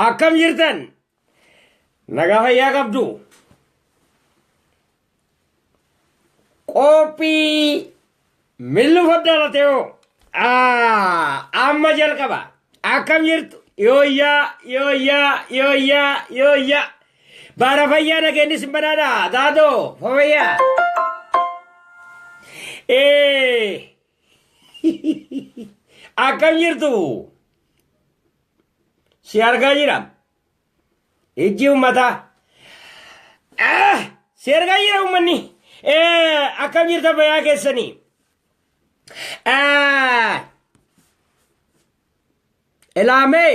akkam jirtan nagaa fayyaa qabdu qophii millu faddaalate hoo amma jalqaba akkam jirtu yooyyaa yooyyaa yooyyaa yooyyaa Baara fayyaa nageenyi sin badhaadha gaadoo fayyaa. Ee akkam jirtu si argaa jira ijji uummataa Ah, si argaa jira uummanni Ee, akkam jirta fayyaa keessanii Ah, ilaamee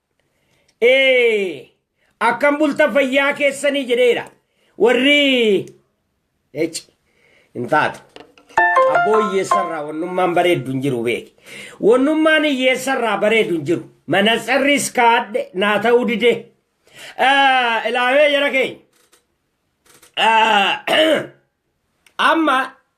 Ee, akkam bultan fayyaa keessanii jedheera. Warri eci hin taatu. Abboo hiyyeessarraa wannummaan bareeddu hin jiru beeki. Wannummaan hiyyeessarraa bareedu hin jiru. Manatsarris kaadhe naa ta'uu dide. Eh, Ilaawee jara keenya. Eh, Amma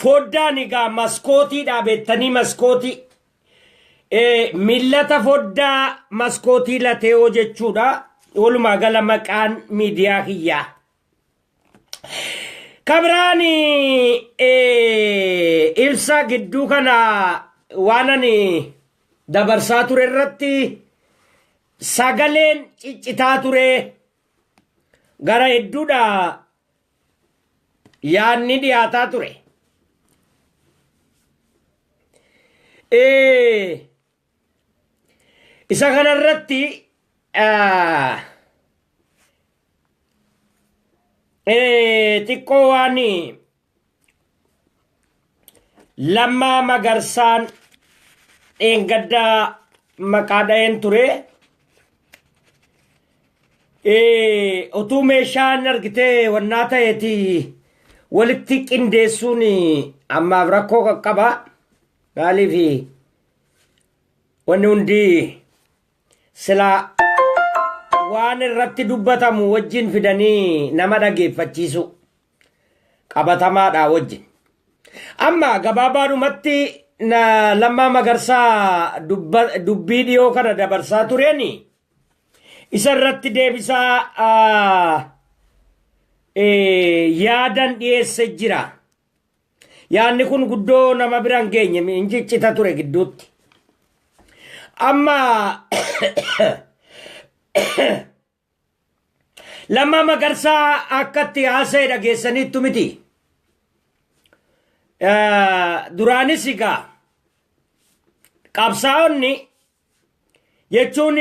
Foddaan egaa maskootiidha beektanii maskootii. Millata foddaa maskootii lateewoo jechuudha. Walumaa gala maqaan miidiyaa kiyyaa. Kabiraan ibsa gidduu kana waan ani dabarsaa ture irratti sagaleen ciccitaa ture gara hedduudha yaadni dhiyaataa ture. Eh, Isa kanarratti ah, eh, xiqqoo waan Lammaa Magarsaan dheengaddaa maqaa dha'een ture. Eh, Otuu meeshaan argitee wannaa ta'eeti walitti qindeessuun ammaaf rakkoo qaqqaba. Maaliif wanni hundi silaa waan irratti dubbatamu wajjin fidanii nama dhageeffachiisu. qabatamaadhaa wajjin. Amma gabaabaadhumatti na Lammaa Magarsaa dubba- dubbii dhiyoo kana dabarsaa tureeni isa irratti deebisaa ah, eh, yaadan dhiyeesse jira. Yaanni kun guddoo nama bira hin geenye hin ciccita ture gidduutti. Amma Lammaa Magarsaa akka itti haasa'e dhageessaniittu miti. Duraanis egaa qabsaa'onni jechuun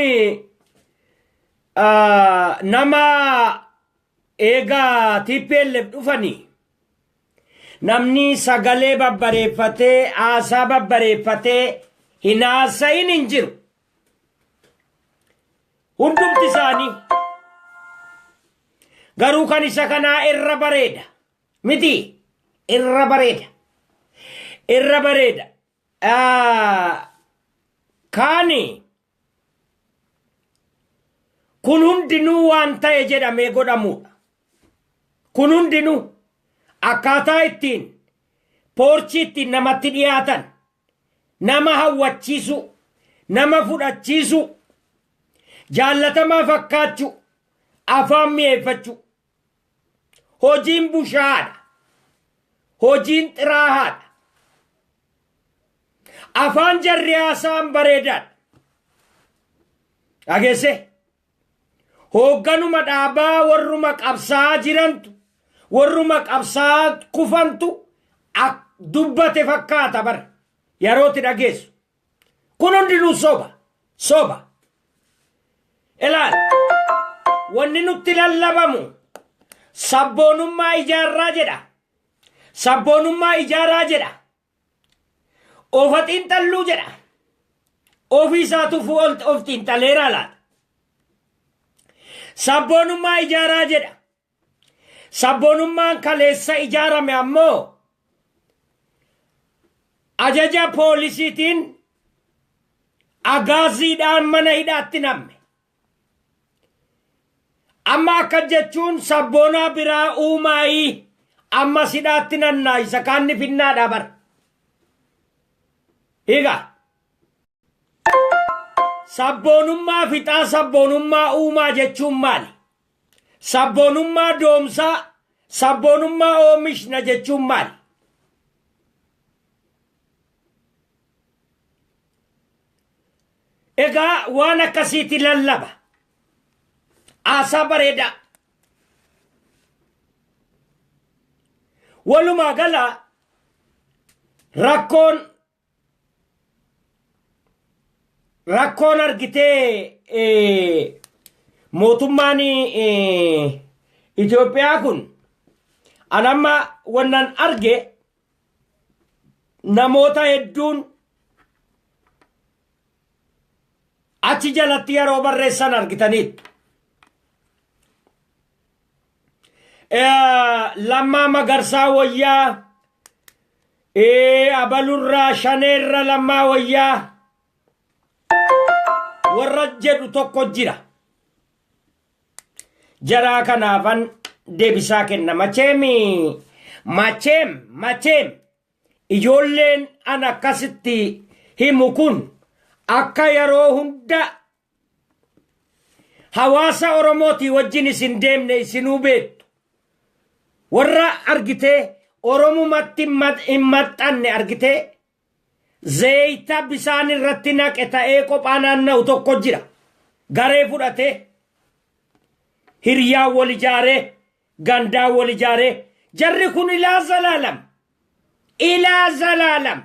nama eegaa TPLF dhufanii namni sagalee babbareeffatee haasaa babbareeffatee hin haasa'in hin jiru. hundumti isaanii garuu kan isa kanaa irra bareeda miti irra bareeda irra bareeda Ah, kaani kun hundinuu waan ta'e jedhamee godhamuudha kun hundinuu akkaataa ittiin poorchii ittiin namatti dhiyaatan nama hawwachiisuu, nama fudhachiisuu, jaallatamaa fakkaachuu, afaan mi'eeffachuu. Hojiin bushaadha. Hojiin xiraahaadha. Afaan jarri haasa'an bareedaadha. Dhageessee? Hoogganuma dhaabaa warruma qabsaa'aa jirantu, warruma qabsaa'aa kufantu ak dubbate fakkaata bar yarooti dhageessu. Kun hundinuu soba, soba. Ilaal, wanni nutti lallabamu sabboonummaa ijaarraa jedha. Sabboonummaa ijaaraa jedha. Ofa xiinxalluu jedha. Ofii isaatuuf of xiinxaleeraa laata? Sabboonummaa ijaaraa jedha. Sabboonummaan kaleessa ijaarame ammoo ajaja poolisiitiin agaaziidhaan mana hidhaatti namme. Amma akka jechuun sabboonaa biraa uumaayii amma sidhaatti nannaayisa kaanni finnaadhaa bar. Higa. Sabboonummaa fixaa sabboonummaa uumaa jechuun maali? Sabboonummaa doomsaa sabboonummaa oomishna jechuun maali? Egaa waan akkasiiti lallaba. Haasaa bareedaa. Walumaa gala rakkoon rakkoon argitee eh, mootummaan eh, Itoophiyaa kun anamma wannan arge namoota hedduun achi jalatti yeroo barreessan argitaniittu. Eh, Lammaa Magarsaa Wayyaa, eh, Abalurraa Shaneerra Lammaa Wayyaa warra jedhu tokko jira. Jaraa kanaafan deebisaa kenna. Macheem macheem macheem ijoolleen an akkasitti himu kun akka yeroo hunda hawaasa Oromootii wajjin isin deemne isinuu beektu. Warra argitee Oromumatti hin maxxanne argitee Zayita bisaan irratti naqe ta'ee qophaa naanna'u tokko jira. Garee fudhatee, hiryaan wal ijaaree, gandaan wal ijaaree, jarri kun ilaa zalaalam. Ilaa zalaalam.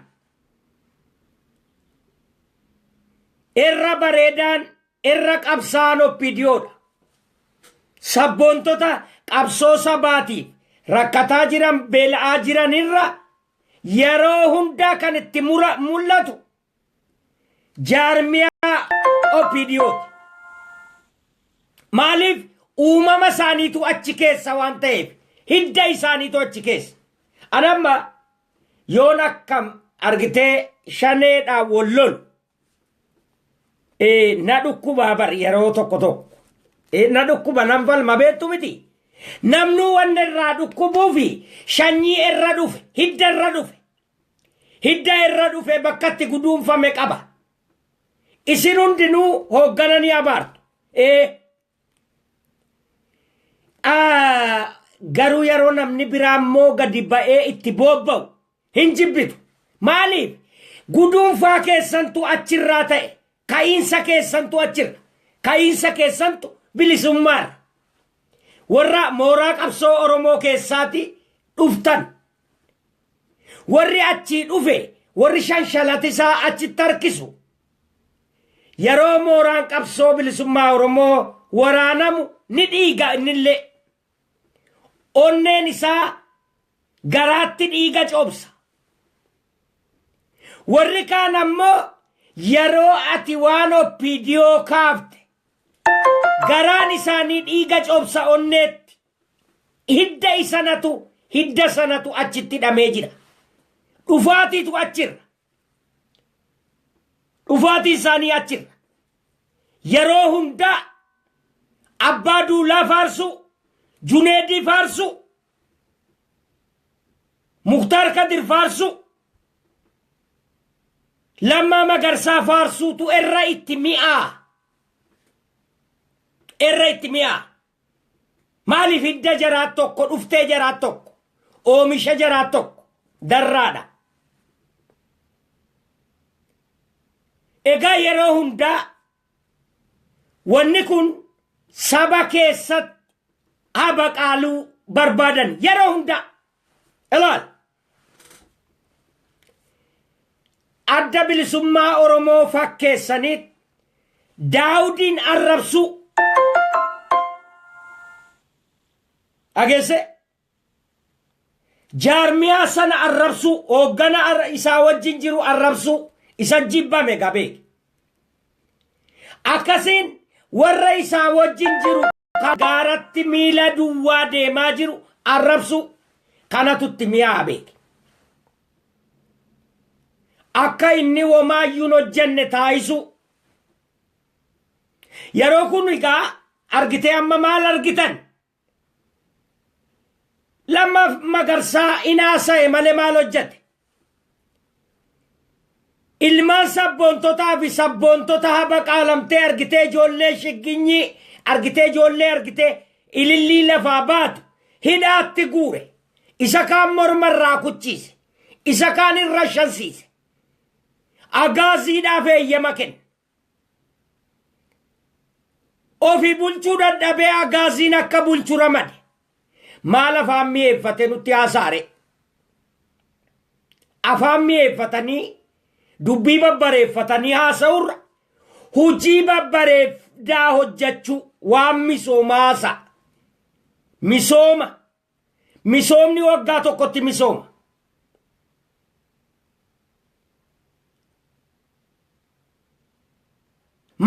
Irra bareedaan, irra qabsaa'aan oppiidiyoodha. Sabboontota qabsoo sabaatiif rakkataa jiran, beela'aa jiran irra yeroo hundaa kan itti mura mul'atu jaarmiyaa OPDOti. Maaliif uumama isaaniitu achi keessa waan ta'eef hidda isaaniitu achi keessa. Anamma yoon akkam argitee shaneedhaan wal lolu Eh, na dhukkubaa bar yeroo tokko tokko. Eh, na dhukkuba nan falma beektu miti. Namnuu wanni irraa dhukkubuu fi shanyii irra dhufe, hidda irra dhufe. Hidda irra dhufe bakkatti guduunfame qaba. Isin hundinuu hooggana ni abaartu. Eh, ah, garuu yeroo namni biraa immoo gadi ba'ee itti boobba'u Hin jibbitu. Maaliif? Guduunfaa keessantu achirraa ta'e. Ka'iinsa keessantu achirra. Ka'iinsa keessantu bilisummaarra. Warra mooraa qabsoo Oromoo keessaati dhuftan. Warri achii dhufe, warri shanshalatisaa achitti harkisu. Yeroo mooraan qabsoo bilisummaa Oromoo waraanamu ni dhiiga innillee. Onneen isaa garaatti dhiiga coobsa. Warri kaan ammoo yeroo ati waan OPDO kaafte garaan isaanii dhiiga coobsa onneetti. Hidda isanatu hidda sanatu achitti hidhamee jira. Dhufaatiitu achirra. Dhufaatii isaanii achirra. Yeroo hundaa abbaa duulaa faarsuu, Juneedii faarsuu, Muktaar Kadir faarsuu, Lammaa Magarsaa faarsuutu irra itti mi'aa. Irra itti mi'aa. Maaliif hidda jaraat tokko, dhuftee jaraat tokko, oomisha jaraat tokko, darraadha. Egaa yeroo hundaa wanni kun saba keessatti habaqaaluu barbaadan yeroo hundaa ilaal adda bilisummaa Oromoo fakkeessaniit Daawudiin arrabsuu dhageesse jaarmiyaa sana arrabsuu hooggana ar- isaa wajjin jiru arrabsuu isa jibbame gabee akkasiin warra isaa wajjin jiru ka gaaratti miila duwwaa deemaa jiru arrabsuu kanatu itti mi'aa'a beeki. Akka inni womaayyuun hojjenne taayisuu. Yeroo kun egaa argitee amma maal argitan? Lamma magarsaa inaasa'e malee maal hojjete? Ilmaan sabboontotaa fi sabboontota haba qaalamtee argitee ijoollee shigginyii argitee ijoollee argitee ilillii lafaa baatu hidhaatti guure. Isa kaan morma irraa kuchiise. Isa kaan irra shansiise. Agaaziidhaaf eeyyama kenna. Ofi bulchuu dadhabee agaaziin akka bulchu ramade. Maal afaan mi'eeffate nutti haasaare. Afaan mi'eeffatanii dubbii babbareeffatanii haasa'urra hojii babbareedaa hojjechuu waan misoomaasa misooma Misoomni waggaa tokkotti misooma.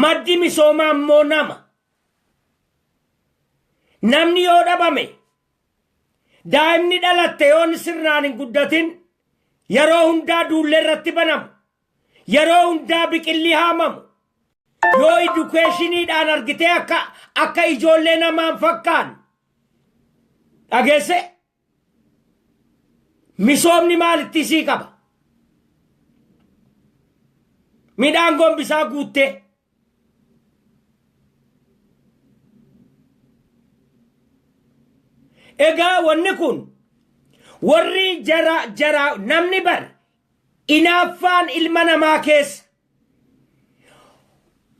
Maddi misoomaa immoo nama. Namni yoo dhabame daa'imni dhalatte yoon sirnaan hin guddatin yeroo hundaa duullee irratti banamu Yeroo hundaa biqilli haamamu. Yoo idukeeshiniidhaan argitee akka akka ijoollee namaan fakkaan. Dhageesse misoomni maalitti isii qaba? Midhaan gombisaa guuttee. Egaa wanni kun warri jara jara namni bar Inaaffaan ilma namaa keessa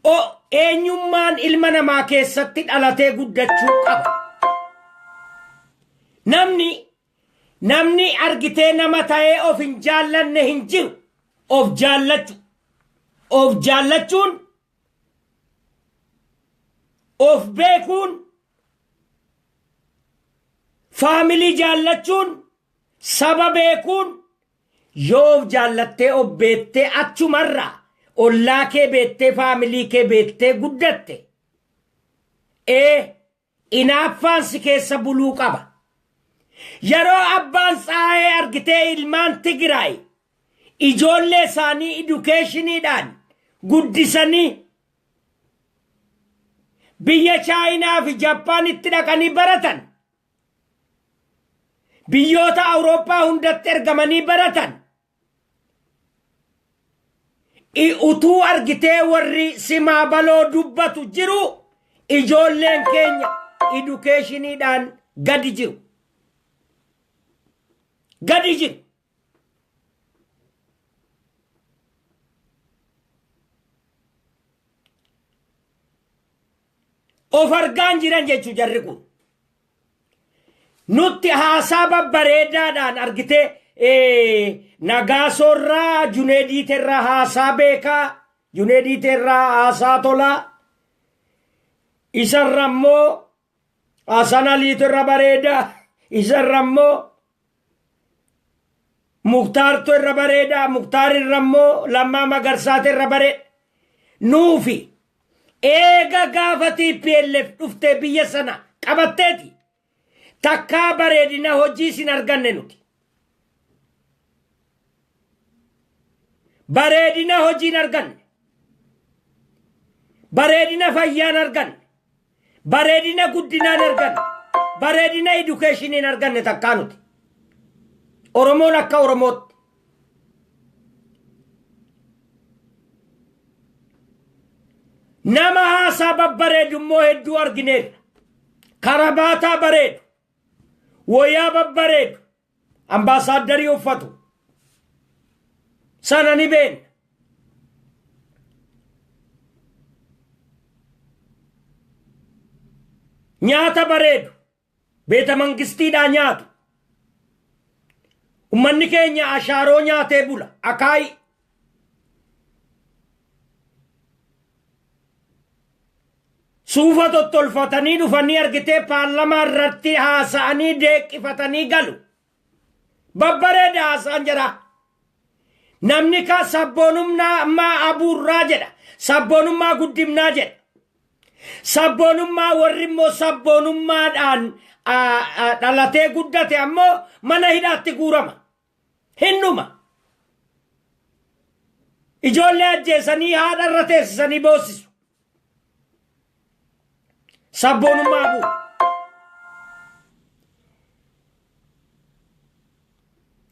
o Eenyummaan ilma namaa keessatti dhalatee guddachuu qaba. Namni namni argitee nama ta'ee of hin jaallanne hin jiru. Of jaallachu. Of jaallachuun of beekuun faamilii jaallachuun Saba beekuun yoo of jaallattee of beektee achumarraa ollaa kee beektee faamilii kee beektee guddatte ee inaaffaan si keessa buluu qaba. Yeroo abbaan tsaayee argitee ilmaan Tigiraay ijoollee isaanii idukeeshiniidhaan guddisanii biyya Chaayinaa fi Jappaanitti dhaqanii baratan biyyoota Awurooppaa hundatti ergamanii baratan utuu argitee warri simaa baloo dubbatu jiru ijoolleen keenya idukeeshiniidhaan gadi jiru. Gadi jiru. of argaan jiran jechu jarri kun nutti haasaa babbareedaadhaan argitee eh, nagaasoorraa juneediiterraa haasaa beekaa juneediiterraa haasaa tolaa isarra immoo Asanaliitu irra bareeda isa irra immoo muktaartu irra bareeda muktaar irra immoo lammaa magarsaatu irra bareeda nuufi eega gaafa TPLF dhuftee biyya sana qabatteeti takkaa bareedina hojii sin arganne nuti Bareedina hojiin arganne. Bareedina fayyaan arganne. Bareedina guddinaan arganne. Bareedina edukeeshiniin arganne takkaa nuti. Oromoon akka Oromootti. Nama haasaa babbareedu immoo hedduu argineerra. Karabaataa bareedu. Woyaa babbareedu ambaasaaddarii uffatu sana ni beekna. Nyaata bareedu beeta mangistiidhaa nyaatu. Ummanni keenya ashaaroo nyaatee bula akaayii. Suufa tottolfatanii dhufanii argitee paarlamaa irratti haasa'anii deeqqifatanii galu. Babbareeda haasaan jira. Namni kaa sabboonummaa abuurraa jedha. Sabboonummaa guddimnaa jedha. Sabboonummaa warri immoo sabboonummaadhaan dhalatee guddate ammoo mana hidhaatti guurama. Hin dhuma. Ijoollee ajjeesanii haadha irra teessisanii boossisu. Sabboonummaa abuu.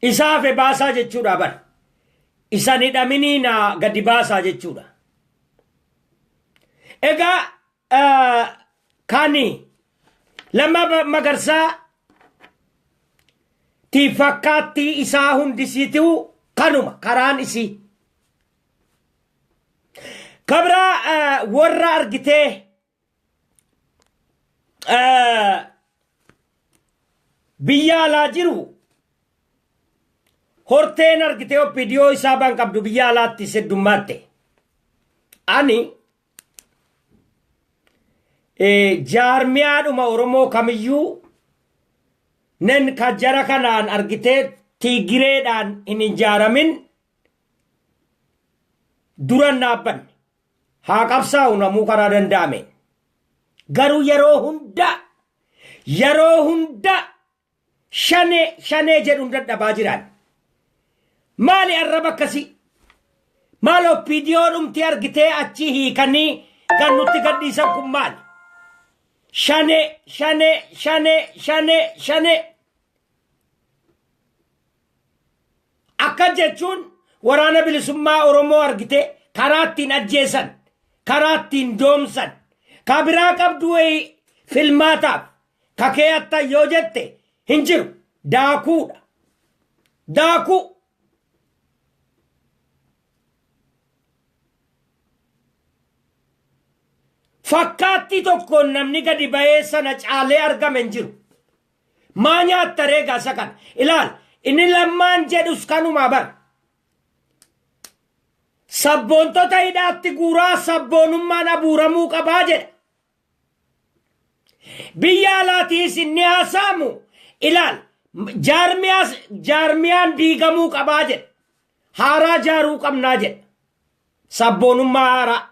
Isa hafe baasaa jechuudha bar. Isan hidhaminii naa gadi baasaa jechuudha. Egaa Kani Lammaa Ba- Magarsaa ti fakkaattii isaa hundisiitiu kanuma karaan isii. Kabra eh, warra argitee eh, biyya alaa jiru horteen argitee oppidiyoo isaa baan qabdu biyya alaatti seddummaatte. Ani jaarmiyaadhuma Oromoo kamiyyuu nen ka jara kanaan argitee tiigireedhaan hin ijaaramin duran dhaabbanne haa qabsaa'u namuu karaa danda'ame garuu yeroo hunda yeroo hunda Shanee shanee jedhun dadhabaa jiraan. Maali arraba akkasii? Maal oppiidiyoo dhumti argitee achii hiikanii kan nutti gadhiisan kun maali? Shanee shanee shanee shanee shanee. Akka jechuun waraana bilisummaa Oromoo argitee karaa ittiin ajjeesan, karaa ittiin doomsan, kan biraa qabdu wayii filmaataaf Ka keeyattan yoo jette hin jiru. Daakuudha. Daakuu. Fakkaattii tokkoon namni gadi ba'ee sana caalee argame hin jiru. Maa nyaatta reegaa isa kana. Ilaal inni lammaan jedhus kanumaa bar. Sabboontota hidhaatti guuraa sabboonummaan abuuramuu qabaa jedha. Biyya alaatiis inni haasaamu ilaal jaarmiyaas jaarmiyaan diigamuu qabaa jedha. Haaraa jaaruu qabnaa jedha. Sabboonummaa haaraa.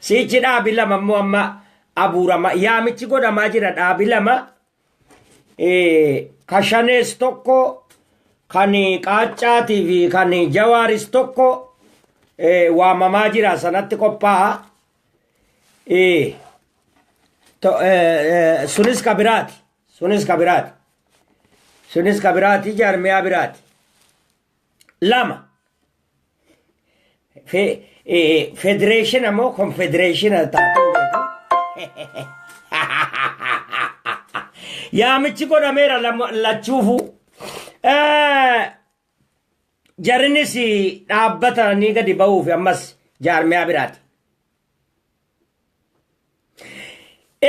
Siichi dhaabi lama immoo amma abuurama yaamichi godhamaa jira dhaabi lama ka shanees tokko kan qaaccaatii fi kan jawaaris tokko waamamaa jira sanatti qophaa'a. Sunis ka biraati. Sunis ka biraati. Sunis ka biraati jaarmiyaa biraati. lama Fe- eh, federeeshina moo konfedereeshina taatee yaamichi godhameera lama- lachuufu Eh, jarinis dhaabbata ni gadi ba'uuf ammas jaarmiyaa biraati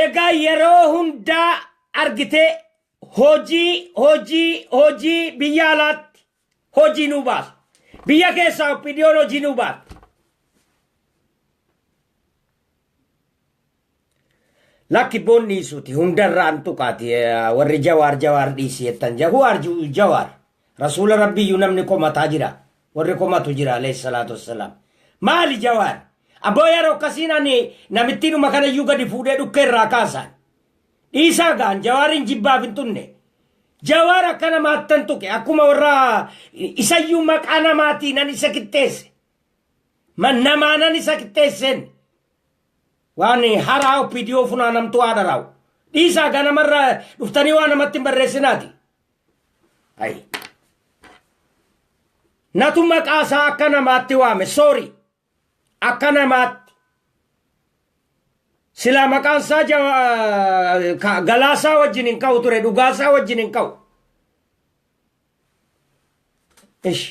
egaa yeroo hundaa argitee hojii hojii hojii biyya alaatti hojii nuu baasa biyya keessaa oppidiyoon hojii nuu baasa lakki boon dhiisuuti hundarraa an tuqaati eh, warri jawaar jawaar dhiisi jettan ja huwaar ju- jawaar rasuula rabbiyyuu namni komataa jira warri komatu jira alayhi salaatu wassalaam maali jawaar abboo yeroo akkasiin ani namittiinuma kanayyuu gadi fuudhee dhukkee irraa kaasaan Dhiisaa gaa an jawaariin jibbaaf hin tunne. Jawaar akka namaattan tuqe akkuma warra isayyuu maqaa namaatiin an isa qixxeesse. Man namaanan isa qixxeesseen. Waan haraa OPDO funaanamtuu haadha raawu. Dhiisaa gaa namarra dhuftanii waa namatti hin barreessinaati. Ayi. Natu maqaa isaa akka namaatti waame soorii. Akka namaatti silaa maqaan isaa jawa- eh, ka- galaasaa wajjin hin ka'u ture dhugaasaa wajjin hin ka'u. Ish.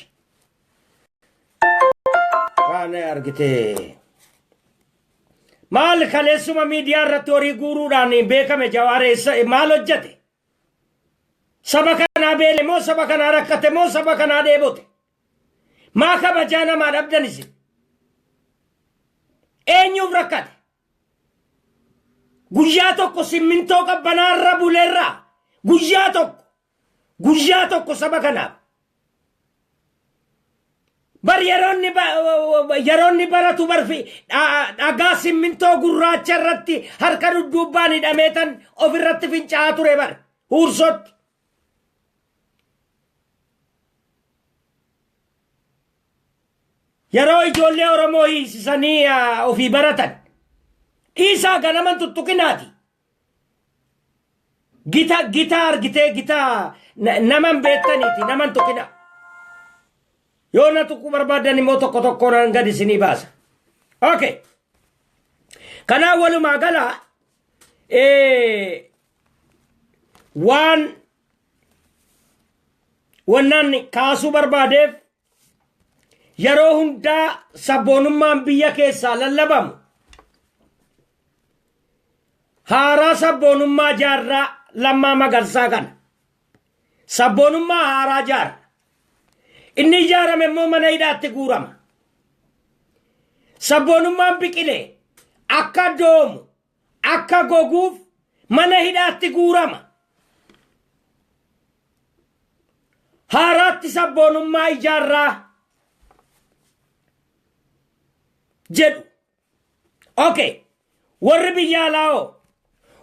Waan argitee. Maal kaleessuma miidiyaa irratti horii guuruudhaan beekame jawaar eessa maal hojjete? Saba kanaa beele moo saba kanaa rakkate moo saba kanaa dheebote? Maa kabajaa namaa dhabdan isin? Eenyuuf rakkate? Guyyaa tokko simmintoo qabbanaa irra buleerraa guyyaa tokko guyyaa tokko saba kanaaf. Bar yeroonni ba- yeroonni baratu barfi dha- dhagaa simmintoo gurraacha irratti harka dudduubbaan hidhameetan of irratti fincaa'aa ture bar huursootti. Yeroo ijoollee Oromoo hiisisanii ofii baratan dhiisaa ganaman tuttuqinaati. Gita gita argitee gita naman beektaniiti naman tuqina. Yoo na tuquu barbaadan immoo tokko tokkoon nan gad isinii baasa. Okay. Kanaan walumaa gala waan wannaan kaasuu barbaadeef yeroo hundaa sabboonummaan biyya keessaa lallabamu haaraa sabboonummaa jaarraa lammaa magarsaa kana sabboonummaa haaraa jaarra inni ijaarame immoo mana hidhaatti guurama sabboonummaan biqilee akka doomu akka goguuf mana hidhaatti guurama. Haaraatti sabboonummaa ijaarraa jedhu. Okay. Warri biyya alaa hoo?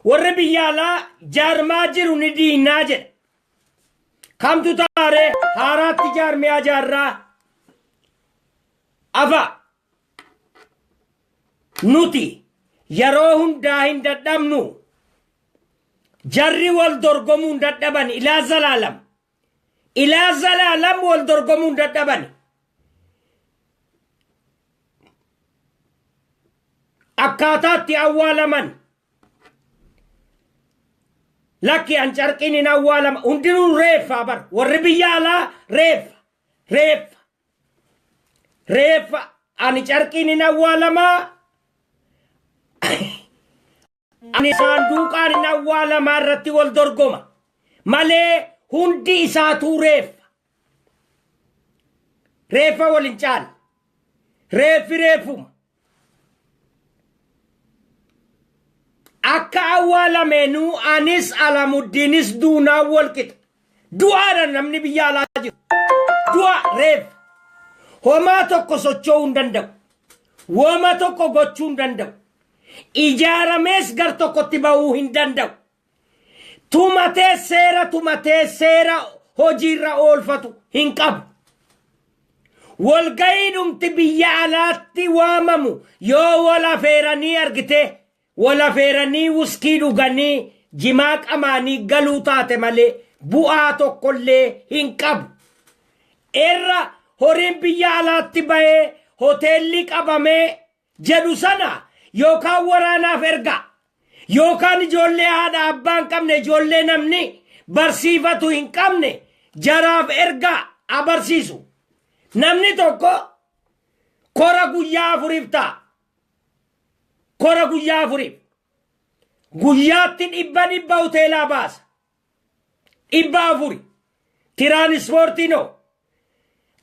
Warri biyya alaa jaarmaa jiru ni diinnaa jedha. Kamtu taaree haaraatti jaarmiyaa jaarraa? Afa Nuti yeroo hundaa hin dadhabnu. Jarri wal dorgomuu hin dadhaban ilaa zalaalam. Ilaa zalaalam wal dorgomuu hin dadhaban. Akkaataatti awwaalaman. Lakki an carqiin hin awwaalama. Hundinuu reeffa bar. Warri biyya alaa reeffa. Reeffa. Reeffa ani carqiin hin awwaalamaa ani saanduuqaan hin awwaalamaa irratti wal dorgoma malee hundi isaatuu reeffa. Reeffa wal hin caalle. Reeffi reeffuma. akka awwaalameenuu anis alamuddiinis duunaan walqixa du'aadha namni biyya alaa jiru du'a reef homaa tokko socho'uu hin danda'u woma tokko gochuu hin danda'u ijaaramees gar tokkotti ba'uu hin danda'u tumatee seera tumatee seera hojiirra oolfatu hin qabu. Walga'iidhumti biyya alaatti waamamu yoo wal afeeranii argitee wal afeeranii wuskii dhuganii jimaa qamaanii galuu taate malee bu'aa tokkollee hin qabu. Irra horiin biyya alaatti bahee hoteellii qabamee jedhu sana yookaan waraanaaf ergaa yookaan ijoollee haadha abbaa hin qabne ijoollee namni barsiifatu hin qabne jaraaf ergaa abarsiisu. Namni tokko kora guyyaa afuriif ta'a. Kora guyyaa afuriif. Guyyaatti dhibba dhibba hoteelaa baasa. dhibba afuri tiraanispoortiin hoo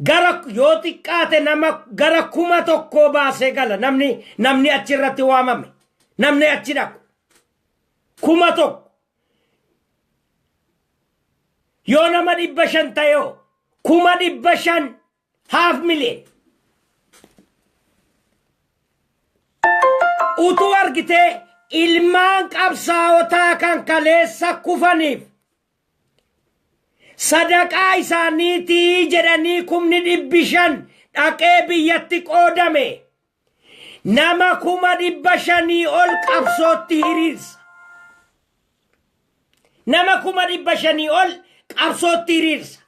gara yoo xiqqaate nama gara kuma tokkoo baasee gala namni namni achi irratti waamame namni achi dhaqu kuma tokko yoo nama dhibba shan ta'e hoo kuma dhibba shan Half million. Utuu argitee ilmaan qabsaawotaa kan kaleessa kufaniif sadaqaa isaaniitii jedhanii kumni dhibbi shan dhaqee biyyatti qoodame nama kuma dhibba shanii ol qabsootti hiriirsa. Nama kuma dhibba shanii ol qabsootti hiriirsa.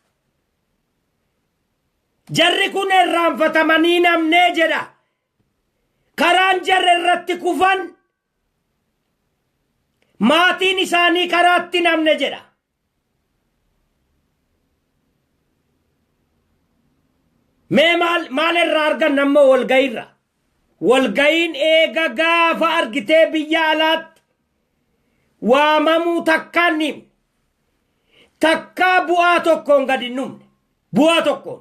Jarri kun irraanfatamanii hin hafne jedha. Karaan jarri irratti kufan maatiin isaanii karaatti hin hafne jedha. Mee maal maal irraa arganna ammoo walga'iirra? Walga'iin eega gaafa argitee biyya alaatti waamamuu takkaa hin dhiifne. Takkaa bu'aa tokkoon gad hin dhumne. Bu'aa tokkoon.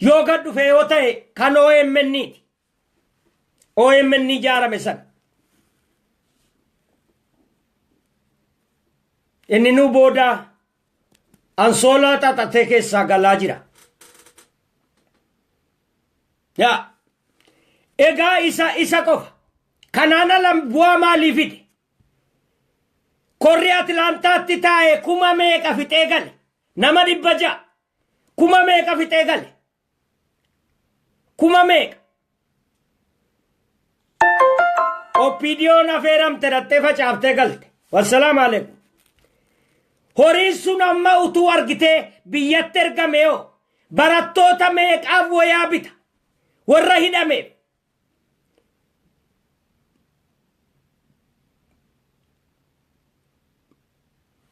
Yoo gad dhufe yoo ta'e kan OMN ti. OMN ijaarame sana. Inni nu booda ansoolaa xaxatee keessaa galaa jira. Yaa egaa isa isa qofa kanaan ala bu'aa maalii fide? Korri Atilaantaatti taa'e kuma meeqa fixee gale? Nama dhibba ja'a kuma meeqa fixee gale? Kuma meeqa? Oppiidiyoon afeeramte dhattee facaaftee galte. Wassalaam aleekum. Horiin sun amma utuu argitee biyyatti ergame yoo Barattoota meeqaaf wayaa bita? Warra hidhameef.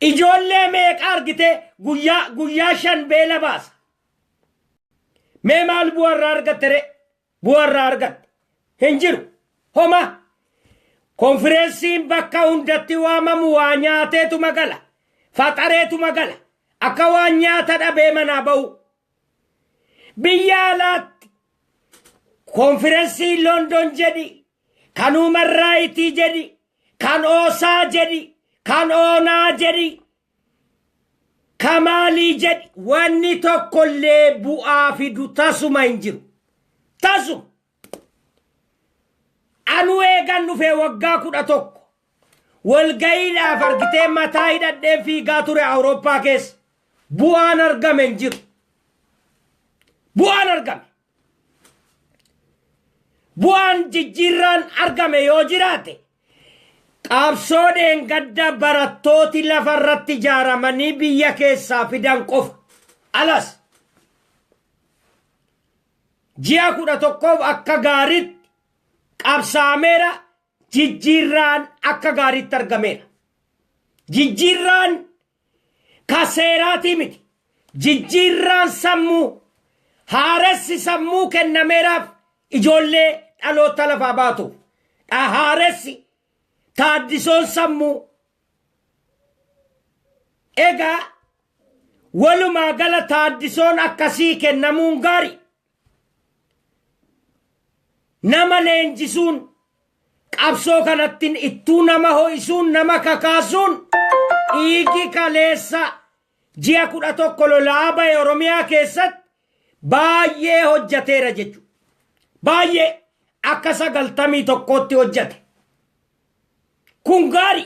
Ijoollee meeqa argitee guyyaa guyyaa shan beela baasa. Mee maal bu'aa irraa argatte ree? Bu'a irraa argatte hin jiru. Homaa. Konfireensiin bakka hundatti waamamu waa nyaateetuma gala. Faxareetuma gala. Akka waan nyaata dhabee manaa ba'uu. Biyya alaatti konfirensii London jedhi, kan Human Raayitii jedhi, kan Oosaa jedhi, kan Oonaa jedhi Ka maalii jedhi wanni tokkollee bu'aa fidu tasuma hin jiru. Tasuma! Anuu eegan dhufee waggaa kudha tokko walga'iidhaaf argitee mataa hidhadheen fiigaa ture Awurooppaa keessa. Bu'aan argame hin jiru. Bu'aan argame Bu'aan jijjiirraan argame yoo jiraate qaabsoo dheengadda barattooti lafa irratti ijaaramanii biyya keessaa fidan qofa. Alas ji'a kudha tokkoof akka gaariitti qabsaameera jijjiirraan akka gaariitti argameera. Jijjiirraan ka seeraatii miti. Jijjiirraan sammuu, haaressi sammuu kennameeraaf ijoollee dhaloota lafaa baatuuf. Dha haaressi, taaddisoon sammuu. Egaa walumaa gala taaddisoon akkasii kennamuun gaari. Nama leenjisuun qabsoo kanattin ittuu nama ho'isuun nama kakaasuun dhiigi kaleessa ji'a kudha tokko lolaa ba'e Oromiyaa keessatti baay'ee hojjateera jechu. Baay'ee akka sagaltamii tokkootti hojjate. Kun gaari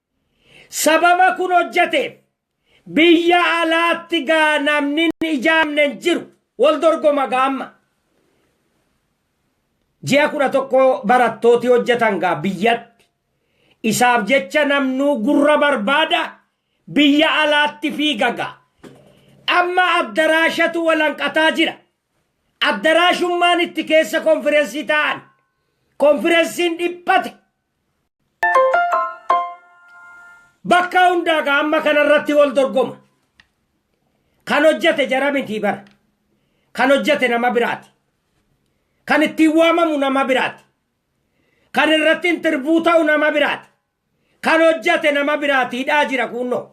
Sababa kun hojjateef biyya alaatti gaa namni hin ijaamne hin jiru. Wal dorgoma gaa amma. Ji'a kudha tokko barattooti hojjatan gaa biyyatti. Isaaf jecha namnuu gurra barbaada biyya alaatti fiiga gaa. Amma addaraashatu walanqataa jira. Addaraashummaan itti keessa konfirensii taa'an. Konfirensiin dhiphate. Bakka hundaa ka amma kanarratti wal dorgoma. Kan hojjete jara mitii bara. Kan hojjete nama biraati. Kan ittiin waamamu nama biraati. Kan irratti intirbuu ta'u nama biraati. Kan hojjete nama biraati hidhaa jira kuunnoo.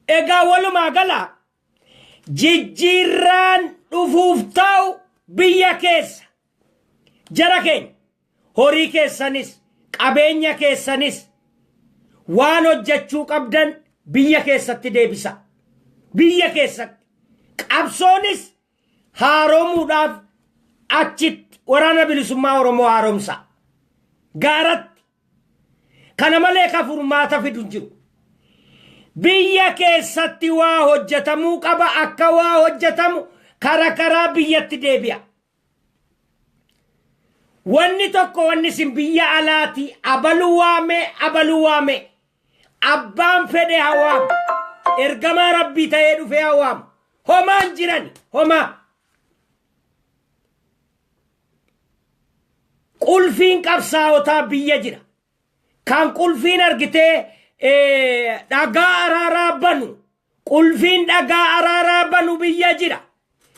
Egaa walumaa gala jijjiirraan dhufuuf ta'u biyya keessa Jara keenya! Horii keessanis, qabeenya keessanis, waan hojjechuu qabdan biyya keessatti deebisaa. Biyya keessatti. Qabsoonis haaromuudhaaf achitti waraana bilisummaa Oromoo haaromsaa. Gaaratti. Kana malee ka furmaata fidu hin jiru. Biyya keessatti waa hojjetamuu qaba akka waa hojjetamu kara karaa biyyatti deebi'a. Wanni tokko wanni isin biyya alaati abalu waame abalu waame abbaan fedhe hawaam ergamaa rabbii ta'ee dhufee hawaam homaan jiran homaa qulfiin qabsaawotaa biyya jira kan qulfiin argitee eh, dhagaa araaraa banu Qulfiin dhagaa araaraa banu biyya jira.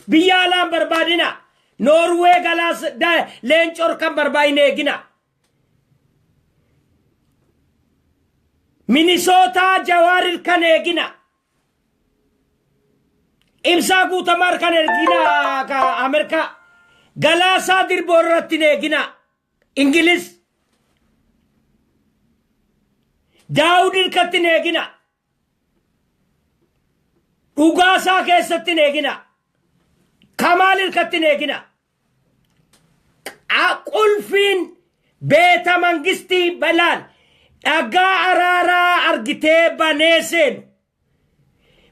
Biyya alaan barbaadina. Noorwee galaas da- leencor kan barbaadin eegina. Minisootaa Jawaarir kan eegina. Ibsaa guutamaar kan eegina ka Ameerikaa. Galaasaa dirboo irratti hin eegina. Ingilis. Daawud irkatti hin eegina. Dhugaa isaa keessatti hin eegina. Kamaal hirkatti hin eegina. Qa- Qulfiin beeta mangistii balaan dhagaa araaraa argitee banee seenu.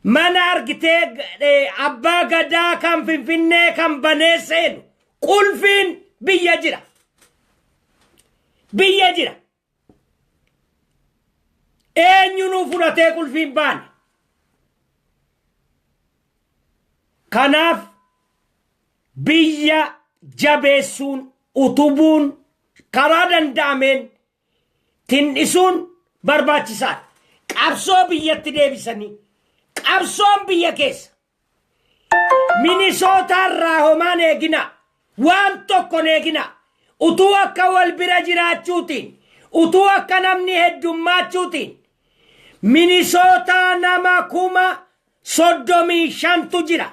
Mana argitee eh, abbaa gadaa kan finfinnee kan banee seenu. Qulfiin biyya jira. Biyya jira. Eenyu nuu fudhatee qulfiin baane. Kanaaf biyya jabeessuun utubuun karaa danda'ameen tindhisuun barbaachisaadha. Qabsoo biyyatti deebisanii qabsoon biyya keessa Minisootaa irraa homaan eegina. Waan tokkon eegina. Utuu akka wal bira jiraachuutiin, utuu akka namni heddummaachuutiin, Minisootaa nama kuma soddomii shantu jira.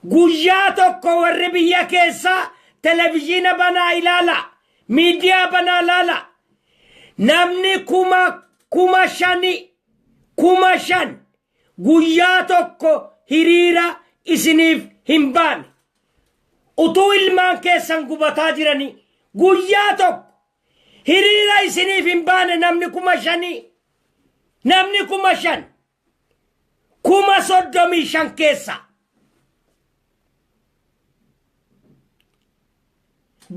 Guyyaa tokko warri biyya keessaa televizyiina banaa ilaala, miidiyaa banaa ilaala. Namni kuma kuma shani, kuma shan guyyaa tokko hiriira isiniif hin baane. Utuu ilmaan keessan gubataa jiranii guyyaa tokko hiriira isiniif hin baane namni kuma shanii. Namni kuma shan. Kuma soddomii shan keessa.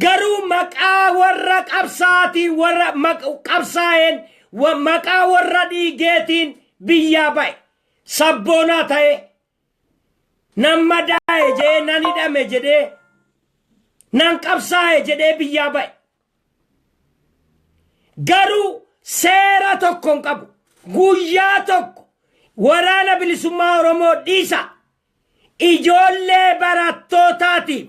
garuu maqaa warra qabsaatiin warra maq- qabsaa'een wa- maqaa warra dhiigeetiin biyyaa ba'e sabboonaa ta'e nan madaa'e jedhee nan hidhame jedhee nan qabsaa'e jedhee biyyaa ba'e garuu seera tokko hin qabu guyyaa tokko waraana bilisummaa oromoo dhiisa Ijoollee barattootaatiif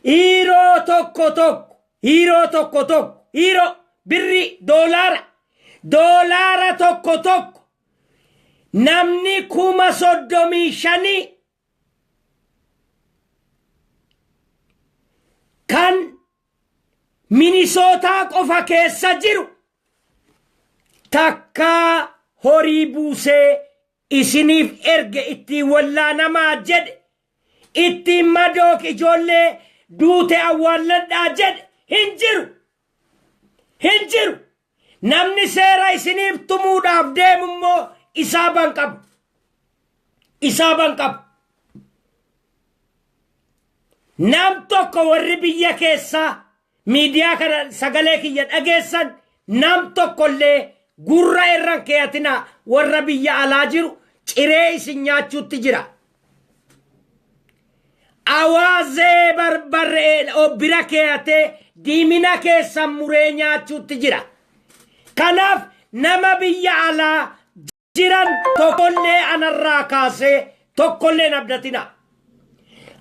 hiiroo tokko tokko hiiroo tokko tokko hiiroo birrii doolaara doolaara tokko tokko namni kuma soddomii shanii kan minisootaa qofa keessa jiru takkaa horii buusee isiniif erge ittiin wallaanamaa jedhe, ittiin madoo ijoollee duute awwaalladhaa jedhe hin jiru. Hin jiru. Namni seera isiniif tumuudhaaf deemu immoo isaa ban qabu. Isaa ban qabu. Nam tokko warri biyya keessaa Miidiyaa kana sagalee kiyya dhageessan nam tokko illee gurra irra hin keeyatinaa warra biyya alaa jiru ciree isin nyaachuutti jira. Awaazee barbarree bira keeyatee diimina keessan muree nyaachuutti jira. Kanaaf nama biyya alaa jiran tokkollee anarraa kaasee tokkolleen abdatina.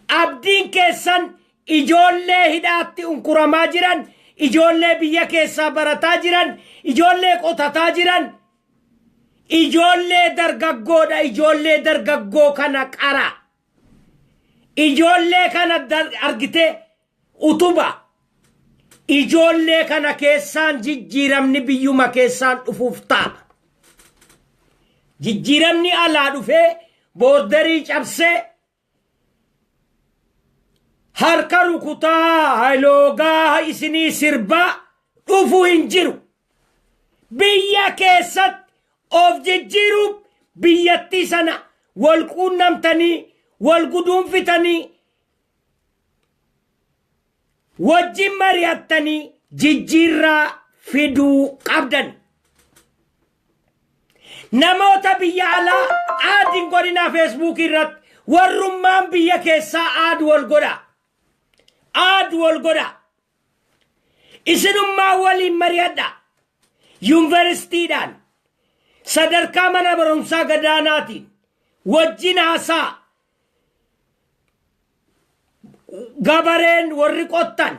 Abdiin keessan ijoollee hidhaatti unkuramaa jiran, ijoollee biyya keessaa barataa jiran, ijoollee qotataa jiran, ijoollee dargaggoodha, ijoollee dargaggoo kana qara. Ijoollee kana argitee Utuba ijoollee kana keessaan jijjiiramni biyyuma keessaan dhufuuf ta'a. Jijjiiramni alaa dhufee boordarii cabsee harka rukutaa haloogaa isinii sirbaa dhufuu hin jiru. Biyya keessatti of jijjiiruuf biyyattii sana wal quunnamtanii wal guduunfitanii wajjin mari'attanii jijjiirraa fiduu qabdan. Namoota biyya alaa aad hin godhinaa feesbuukii irratti warrummaan biyya keessaa aad wal godha. Aad wal godha. Isinummaa waliin mari'adha. Yuunivarsiitiidhaan sadarkaa mana barumsaa gadaanaatiin wajjin haasaa gabareen warri qottan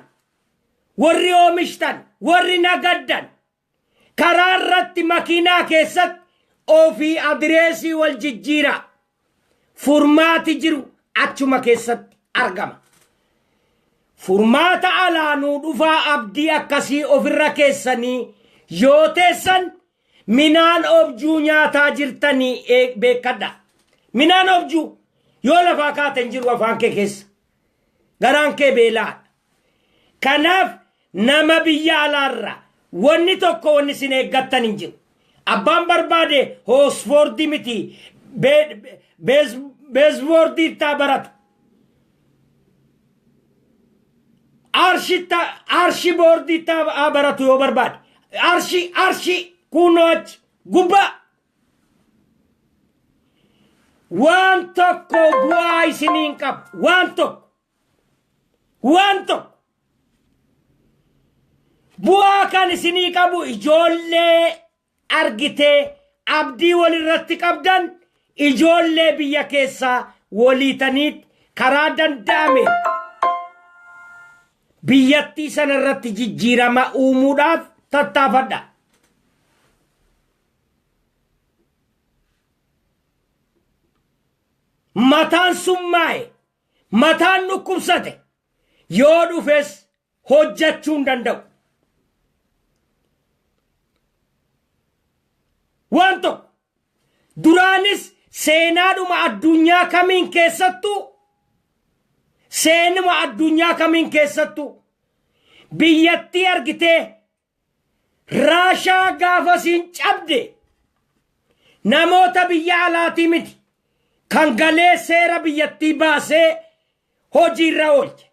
warri oomishtan warri nagaddan karaa irratti makiinaa keessatti ofii adireesii wal jijjiiraa furmaati jiru achuma keessatti argama. Furmaata alaanuu dhufaa abdii akkasii ofirra keessanii yoo teessan Minaan objuu nyaataa jirtani eeg beekkadha. Minaan objuu yoo lafaa kaate hin jiru afaan kee keessa. Garaan kee beela'aadha. Kanaaf nama biyya alaarraa wanni tokko wanni isin eeggattan hin jiru. Abbaan barbaade hoosfoordii miti beesboordii ittaa barata. Arshitta arshi boordiitti haa baratu yoo barbaade. Arshi arshi kunnoo achi gubbaa. Waan tokko bu'aa isiniin qabu. Waan tokko. Waan tokko. Bu'aa kan isinii qabu ijoollee argitee abdii wal irratti qabdan ijoollee biyya keessaa waliitaniit karaa danda'ame biyyattii sana irratti jijjiirama uumuudhaaf tattaafadha. Mataan summaa'e, mataan dhukkubsate yoo dhufes hojjachuu hin danda'u. Waan tokko duraanis seenaadhuma addunyaa kamiin keessattuu seenuma addunyaa kamiin keessattuu biyyattii argitee Raashaa gaafa siin cabde namoota biyya alaatii miti kan galee seera biyyattii baasee hojiirra oolche.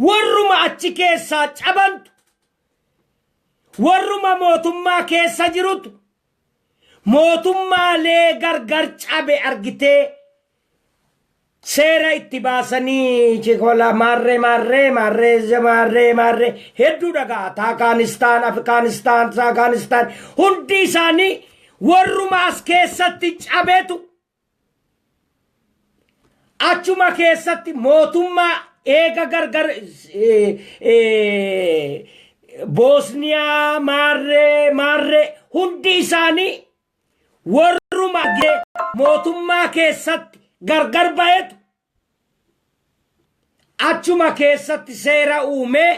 Warruma achi keessaa cabantu warruma mootummaa keessa jirutu Mootummaa lee gargar cabe argitee seera itti baasanii chikola maarree maarree maarree ze- maarree maarree hedduu dhagaa taakaanistaan afgaanistaan saakaanistaan hundi isaanii warruma as keessatti cabetu Achuma keessatti mootummaa eega gargar Boosniyaa maarree maarree hundi isaanii warruma mootummaa keessatti gargar bahetu achuma keessatti seera uumee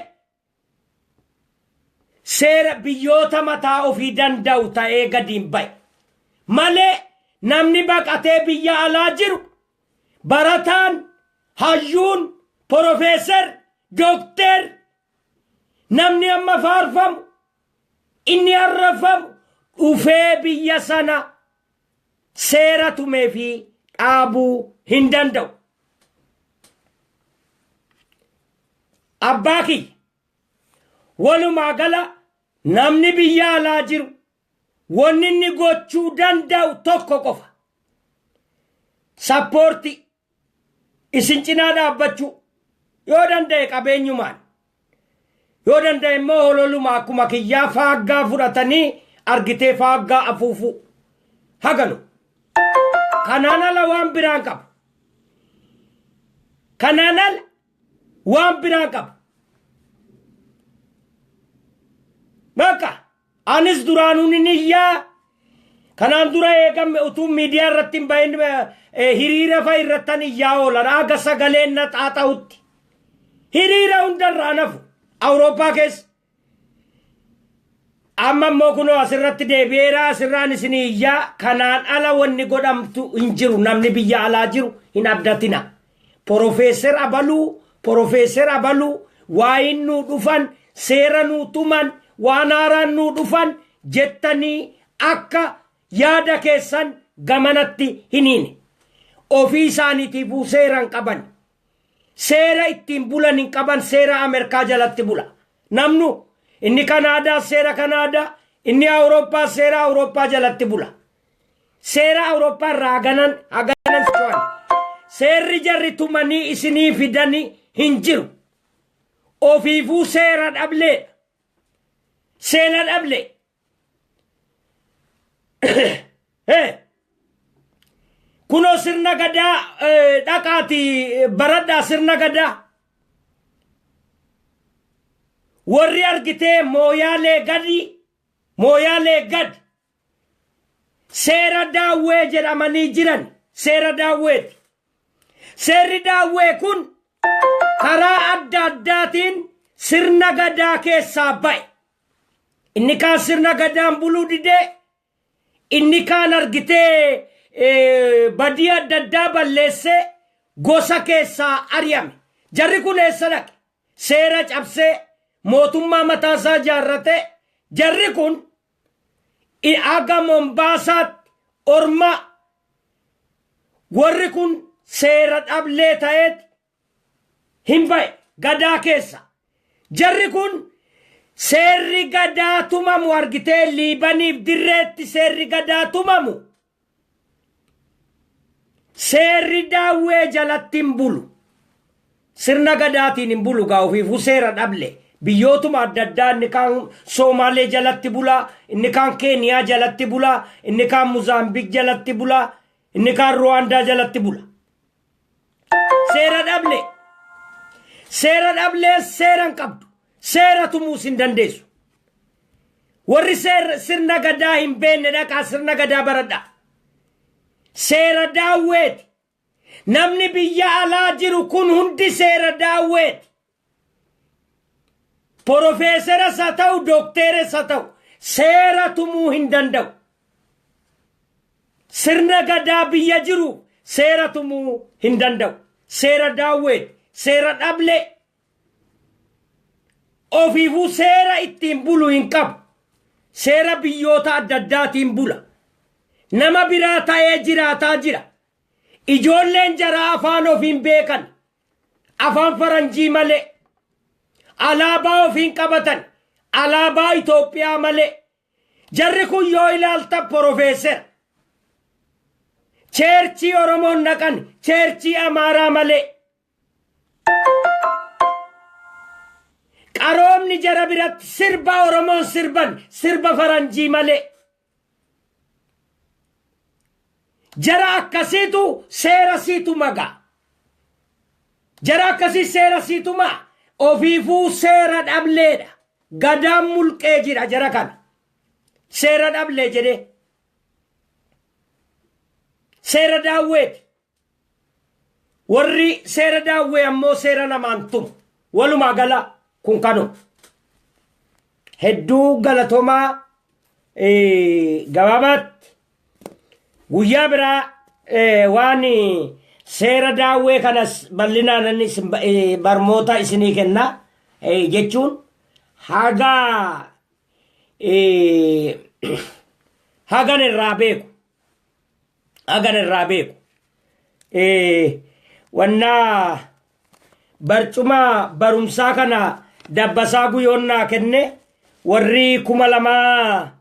seera biyyoota mataa ofii danda'u ta'ee gadiin ba'e. Malee namni baqatee biyya alaa jiru barataan, hayyuun, porofeesar, dokteer namni amma faarfamu inni arrafamu dhufee biyya sana seera tumee fi dhaabuu hin danda'u. Abbaa kiyya walumaa gala namni biyya alaa jiru wanni inni gochuu danda'u tokko qofa. Sappoortii Isin cinaa dhaabbachuu, yoo danda'e qabeenyumaan, yoo danda'e immoo hololuma akkuma kiyyaa faaggaa fudhatanii argitee faaggaa afuufuu. Haganu. Kanaan ala waan biraa hin qabu. Kanaan ala waan biraa hin qabu. Bakka Anis duraanuu nin iyya. Kanaan dura eega utuu miidiyaa irratti hin bahin hiriira fa'i irrattan iyyaa oolan haga sagaleen na xaaxa'utti. Hiriira hunda irraa hin hafu Awurooppaa keessa. Amma immoo kunoo asirratti deebi'eera asirraan isin iyyaa kanaan ala wanni godhamtu hin jiru namni biyya alaa jiru hin abdatina. Porofeesser abaluu, Porofeesser abaluu, waayiin nuu dhufan, seera nuu tuman, waan haaraan nuu dhufan jettanii akka yaada keessan gamanatti hin hiine. Ofii isaaniitiifuu seera hin qaban. Seera ittiin bulan hin qaban seera Amerkaa jalatti bula. Namnu inni Kanaadaa seera Kanaadaa, inni Awurooppaa seera Awurooppaa jalatti bula. Seera Awurooppaa irraa haganan haganan socho'an. Seerri jarri tumanii isinii fidani hin jiru. Ofiifuu seera dhableedha. Seena dhablee. Hee! Kunoo sirna gadaa eh, dhaqaati baradhaa sirna gadaa. Warri argitee mooyaalee gadi mooyaalee gadi Seera Daawwee jedhamanii jiran seera Daawweeti. Seerri Daawwee kun karaa adda addaatiin sirna gadaa keessaa ba'e. Inni kaan sirna gadaan buluu didee, inni kaan argitee badii adda addaa balleessee gosa keessaa ari'ame. Jarri kun eessa dhaqe? Seera cabsee mootummaa mataasaa ijaarratee jarri kun i aga Mombaasaatti ormaa warri kun seera dhablee ta'eeti hin ba'e gadaa keessa. Jarri kun seerri gadaa tumamu argitee Liibaniif dirreetti seerri gadaa tumamu. Seerri daawwee jalatti hin bulu. Sirna gadaatiin hin bulu gaa ofiifuu seera dhable. Biyyootuma adda addaa inni kaan Soomaalee jalatti bulaa, inni kaan Keeniyaa jalatti bulaa, inni kaan Muzaambik jalatti bulaa, inni kaan Ruwaandaa jalatti bula. Seera dhablee. Seera dhablee seera hin qabdu. Seera tumuus hin dandeessu. Warri seer- sirna gadaa hin beekne dhaqaa sirna gadaa baradhaa. Seera daawweeti. Namni biyya alaa jiru kun hundi seera daawweeti. Porofeeseras haa ta'u dookteeres haa ta'u seera tumuu hin danda'u. Sirna gadaa biyya jiru seera tumuu hin danda'u. Seera daawweeti, seera dhablee. Ofiifuu seera ittiin bulu hin qabu. Seera biyyoota adda addaatiin bula. Nama biraa ta'ee jiraataa jira. Ijoolleen jaraa afaan ofiin beekan afaan faranjii malee alaabaa ofiin qabatan alaabaa Itoophiyaa malee jarri kun yoo ilaalta porofeesera cheerchii Oromoon naqan cheerchii Amaaraa malee qaroomni jara biratti sirba Oromoon sirban sirba faranjii malee Jara akkasiitu seera sii tuma gaa. Jara akkasii seera sii tuma ofiifuu seera dhableedha. Gadaan mulqee jira jara kana. Seera dhablee jedhee. Seera daawweeti. Warri seera daawwee ammoo seera lamaan tumu. Walumaa gala kun kanuma. Hedduu galatomaa eh, gabaabaatti guyyaa biraa eh, waan eh, seera daawwee kanas bal'inaan isin ba- eh, barmoota isinii kenna eh, jechuun haga eh, hagan irraa beeku hagan irraa beeku wannaa barcuma barumsaa kana dabbasaa guyoon naa kenne warri kuma lamaa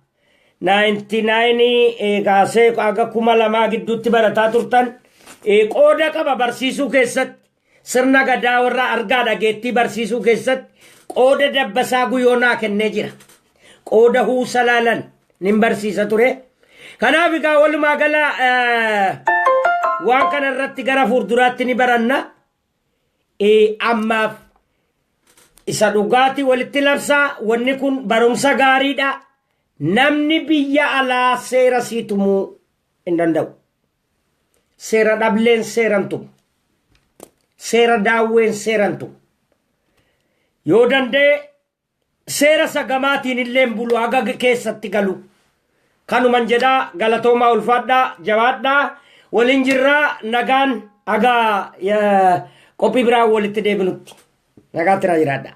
naayinti naayinii kaasee aga kuma lamaa gidduutti barataa turtan qooda qaba barsiisuu keessatti Sirna Gadaa warra argaa dhageettii barsiisuu keessatti qooda Dabbasaa Guyoo naa kennee jira. Qooda Huusalaalan nin barsiisa ture. Kanaaf egaa walumaa gala waan kana irratti gara fuulduraatti ni baranna. Ammaaf isa dhugaatii walitti labsaa wanni kun barumsa gaariidha. Namni biyya alaa seera sii tumuu hin danda'u. Seera dhableen seeran tumu. Seera daawween seeran tumu. Yoo danda'e seera isa gamaatiin illee hin bulu haga keessatti galu. Kanuman jedhaa galatoomaa ulfaadhaa jabaadhaa waliin jirraa nagaan haga qophii biraa walitti deebinutti. Nagaa tiraa jiraadhaa.